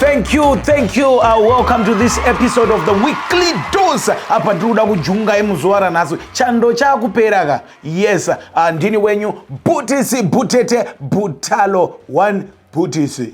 Thank you, thank you. Uh, welcome to this episode of the weekly dose. Apa tiri kuda kujunga emuzuva ranhasi chando chakupera ka yes uh, ndini wenyu butisi butete butalo one butisi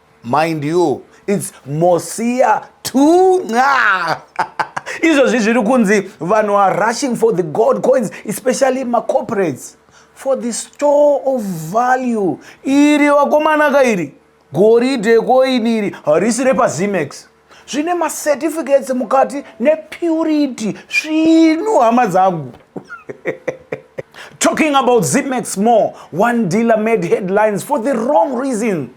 mind you its mosiya tunga izvozvi zviri kunzi vanhu are rushing for the gold coins especially macorporates for the store of value iri vakomanaka iri goridhe koini iri harisi repazimex zvine macertificates mukati nepurity svinu hama dzangu talking about zimex more one dealer made headlines for the wrong reason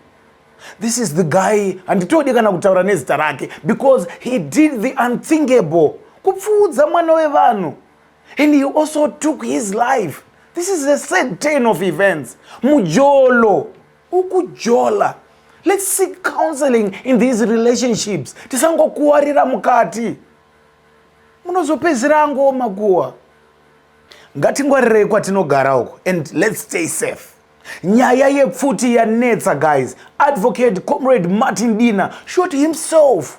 this is the guy handitodi kana kutaura nezita rake because he did the unthinkable kupfuudza mwana wevanhu and he also took his life this is a sad turn of events mujolo ukujola let's seek counseling in these relationships tisangokuwarira mukati munozopedzera angooma kuwa ngatingwarirei kwatinogara uko and let's stay safe nyaya yepfuti yanetsa guys advocate comrade martin dina shot himself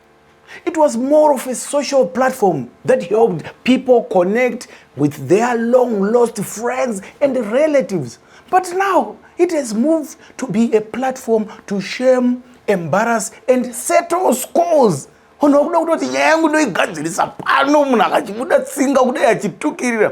It was more of a social platform that helped people connect with their long lost friends and relatives. But now it has moved to be a platform to shame, embarrass, and settle scores. Unhu wakuda kutoti nyaya yangu ndoigadzirisa pano munhu akachibuda tsinga kudai achitukirira.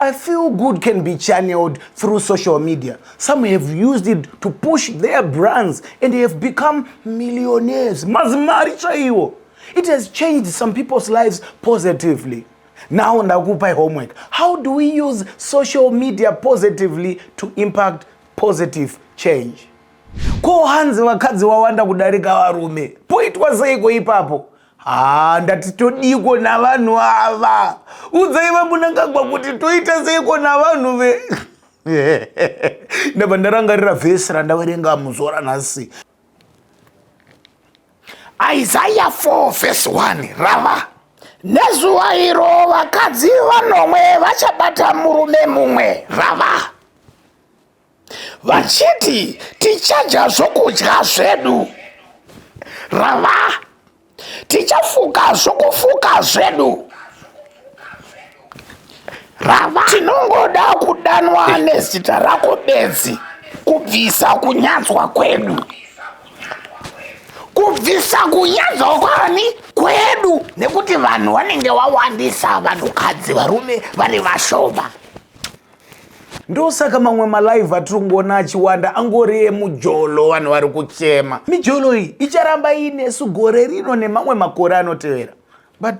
I feel good can be channeled through social media. Some have used it to push their brands and they have become millionaires. Mazimari chaiwo. It has changed some people's lives positively. Now ndakupai homework. How do we use social media positively to impact positive change? Ko hanzi vakadzi wawanda kudarika varume. Poitwa seiko ipapo? haa ndati todiiko navanhu ava udzai vamunangagwa kuti toita seiko navanhu ve ndabva ndarangarira vhesi randaverenga muzuva ranhasi isaya 4 vhesi 1 rava nezuva iro vakadzi vanomwe vachabata murume mumwe rava vachiti tichadya zvokudya zvedu rava tichafuka zvokufuka zvedu rava tinongoda kudanwa nezita rako bedzi kubvisa kunyadzwa kwedu kubvisa kunyadza kwani kwedu nekuti vanhu vanenge wawandisa vanhukadzi varume vane vashoma ndosaka mamwe malive atiri kungoona achiwanda angori emujolo vanhu vari kuchema mijolo iyi icharamba iinesu gore rino nemamwe makore anotevera but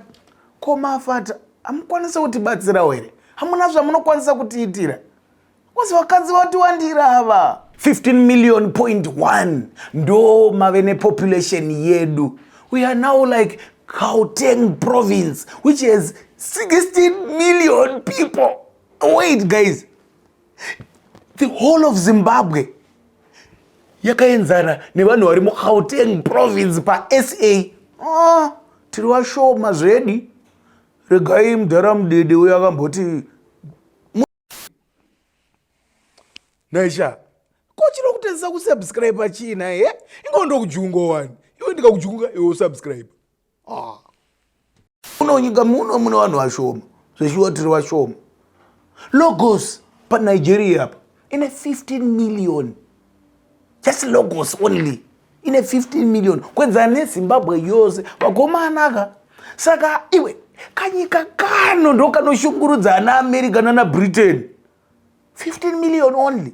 ko mafata hamukwanisa kutibatsirawo here hamuna zvamunokwanisa kutiitira kozi vakadzi vatiwandira ava 15 million point 1 ndo mave nepopulation yedu we are now like gauteng province which has 16 million people wait guys the whole of zimbabwe yakaenzana nevanhu vari mugauteng province pasa oh, tiri vashoma zvedi regai mudhara mudede uyo akamboti naisha ko chinokutadzisa kusubscribe chiina he ingondo kujungo wani iwe ndikakujunga iwe usubscribe ah. muno nyika muno mune vanhu vashoma zveshuwa tiri vashoma logos panigeria apa ine 15 million just logos only ine 15 million kwenzana nezimbabwe yose vakomanaka saka iwe kanyika kano ndokanoshungurudza ana america nana britain 15 million only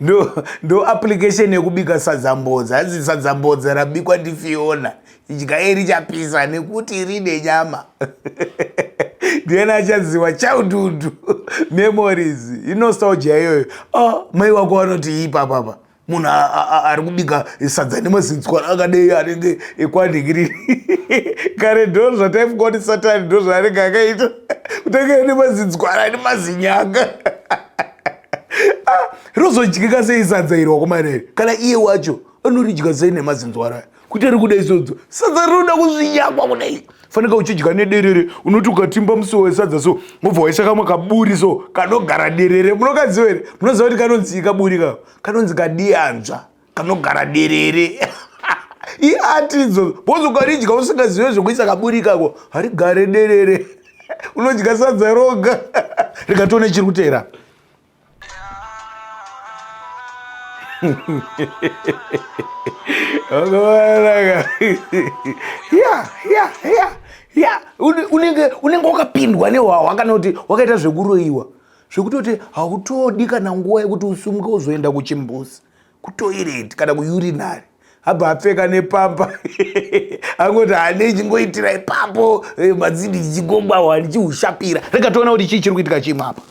ndo ndo application yekubika sadzambodza hanzi sadzambodza rabikwa ndifiona idyai richapisa nekuti rine nyama ndiyena achaziwa childhood memories inostalgia iyoyo oh, mai wako vanoti ipapapa munhu ari kubika sadza nemazinzwa akadei anenge ekwanhingiriri kare ndo zvataifunga kuti satani ndo zvaanenge akaita kutanga nemazinzwara nemazinyanga ah, rozodyika sei sadza iri wakomanere kana iye wacho anoridya sei nemazinzwara kuti ari kuda izodzo sadza rinoda kuzvinyakwa kudai faneka uchidya nederere unoti ukatimba musiwo wesadza so mobva waisa kamwe kaburi so kanogara derere munokaziva here munoziva kuti kanonzii kaburi ka kanonzi kadiyanzva kanogara derere iati idzo bhozi ukaridya usingazive zvekuisa kaburi ikako harigare derere unodya sadza roga rikatone chiri kutera unenge wakapindwa nehwahwa kana kuti wakaita zvekuroyiwa zvekutoti hautodi kana nguva yekuti usumuke uzoenda kuchimbuzi kutoireti kana kuyurinari abva apfeka nepamba angoti hane chingoitira ipapo eh, madzindi chichigogwahwa ndichiushapira rega toona kuti chii chiri kuitika chimwe apa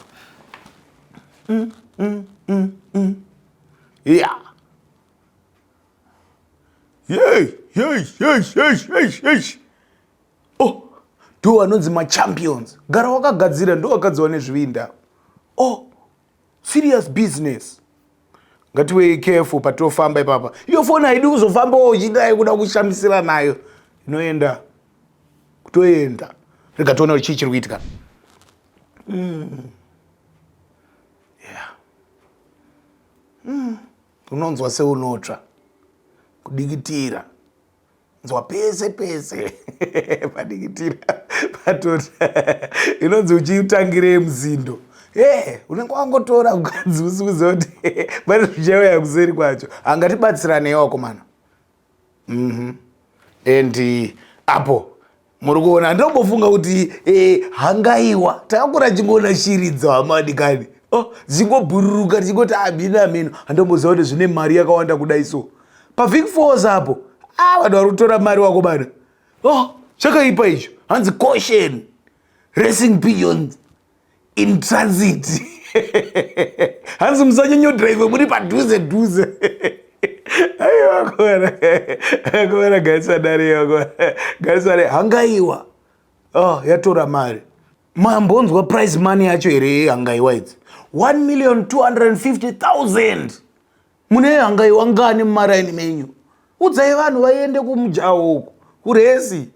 mm, mm, mm, mm. ya oh ndo anonzi machampions gara wakagadzira ndo wakadziwa nezvivinda oh serious business ngatiwei careful patinofamba ipapa iyo foni haidi kuzofambawo uchidai kuda kushamisira nayo inoenda kutoenda rega tiona kuti chii chiri kuitika mm. yeah. mm. unonzwa seunotsva kudikitira nzwa pese pese padikitira patoti inonzi uchitangirei muzindo e unenge wangotora mukadzi usiuze kuti pane zvichauya kuseri kwacho angatibatsiraneyi wakomana mm -hmm. and apo muri kuona handinombofunga kuti eh, hangaiwa takakura chingoona shiri dzawamadikani oh, dzingobhururuka tichingoti amina ah, mino handinomboziva kuti zvine mari yakawanda kudai so pavik fos apo ah, vanhu vari kutora mari wako bana oh, chakaipa icho hanzi caution racing beyond in transit hanzi musanyanyo drive muri padhuze dhuze aiwa kuona kuona gaisa dare yoko gaisa dare hangaiwa oh yatora mari mambonzwa price money yacho here hangaiwa idzi 1 million 250000 mune hangaiwa ngani mumaraini menyu udzai vanhu vaiende kumujaho uku kuresi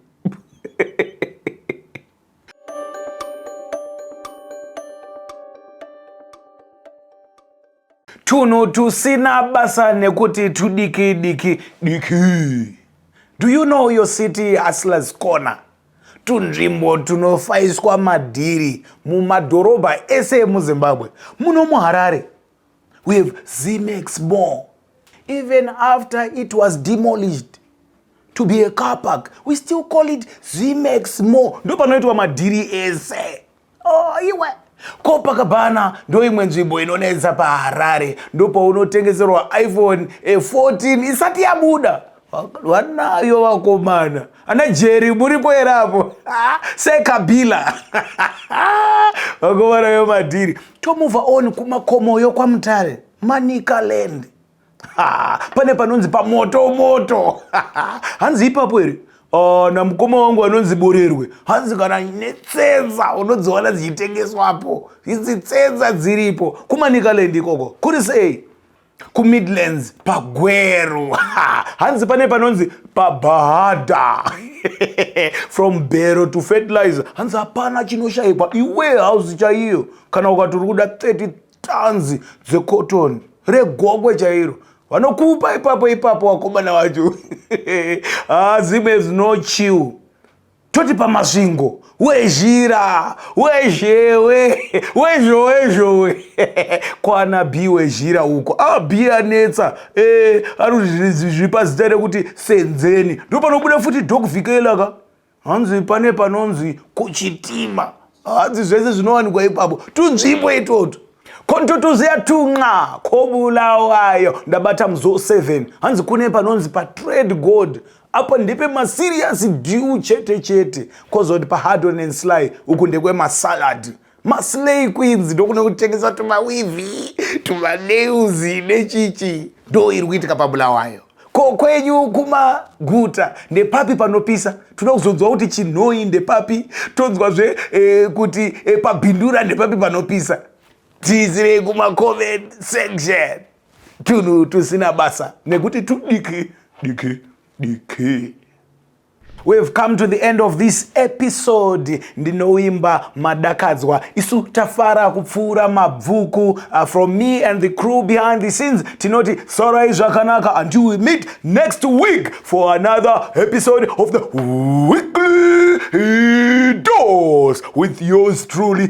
tunhu tusina basa nekuti tudiki diki diki do you know your city hustlers corner tunzvimbo tunofaiswa madhiri mumadhorobha ese emuzimbabwe muno muharare we have zmax more even after it was demolished to be a car park we still call it zmax more ndo panoitwa madhiri ese oh, iwe kopakabhana ndoimwe nzvimbo inonetsa paharare ndopaunotengeserwa iphone 14 eh, isati yabuda vanayo vakomana ana jeri muripo here apo ah, sekabila vakomana vemadhiri tomova on kumakomoyo kwamutare manicaland pane panonzi pamoto moto hanzi ipapo here ah, namukoma wangu vanonzi borerwe hanzi kana netsenza unodziwana dzichitengeswapo idzi tsenza dziripo kumanikaland ikoko kuri sei kumidlands pagweru hanzi pane panonzi pabhahadha from bero to fertilizer hanzi hapana chinoshaikwa iwe hauzi chaiyo kana ukati uri kuda 30 tanzi dzecotton regokwe chairo vanokupa ipapo ipapo wakomana wacho ah, zim has no chill toti pamasvingo wezhira wezhewe wezhowezhowe kwana bi wezhira uko a bi anetsa e eh, aruzviri pazita rekuti senzeni ndo panobuda futi dokvikela ka hanzi pane panonzi kuchitima hanzi zvese zvinowanikwa ipapo tunzvimbo itoto kontotoziya tunxa kobulawayo ndabata muzo 7 hanzi kune panonzi patrade gold apa ndepe maserious dew chete chete kozoti pahardon and sly uku ndekwemasalad maslay queens ndokune kutengesa tumawivi tumanews nechichi ndo iri kuitika pabulawayo ko kwenyu kumaguta ndepapi panopisa tinoda kuzonzwa kuti chinhoi ndepapi tonzwazve eh, kuti eh, pabhindura ndepapi panopisa tiisirei kumacoment section tunhu tusina basa nekuti tudiki diki diki We've come to the end of this episode ndinoimba madakadzwa isu tafara kupfuura mabvuku uh, from me and the crew behind the scenes tinoti sorai zvakanaka until we meet next week for another episode of the weekly dose with yours truly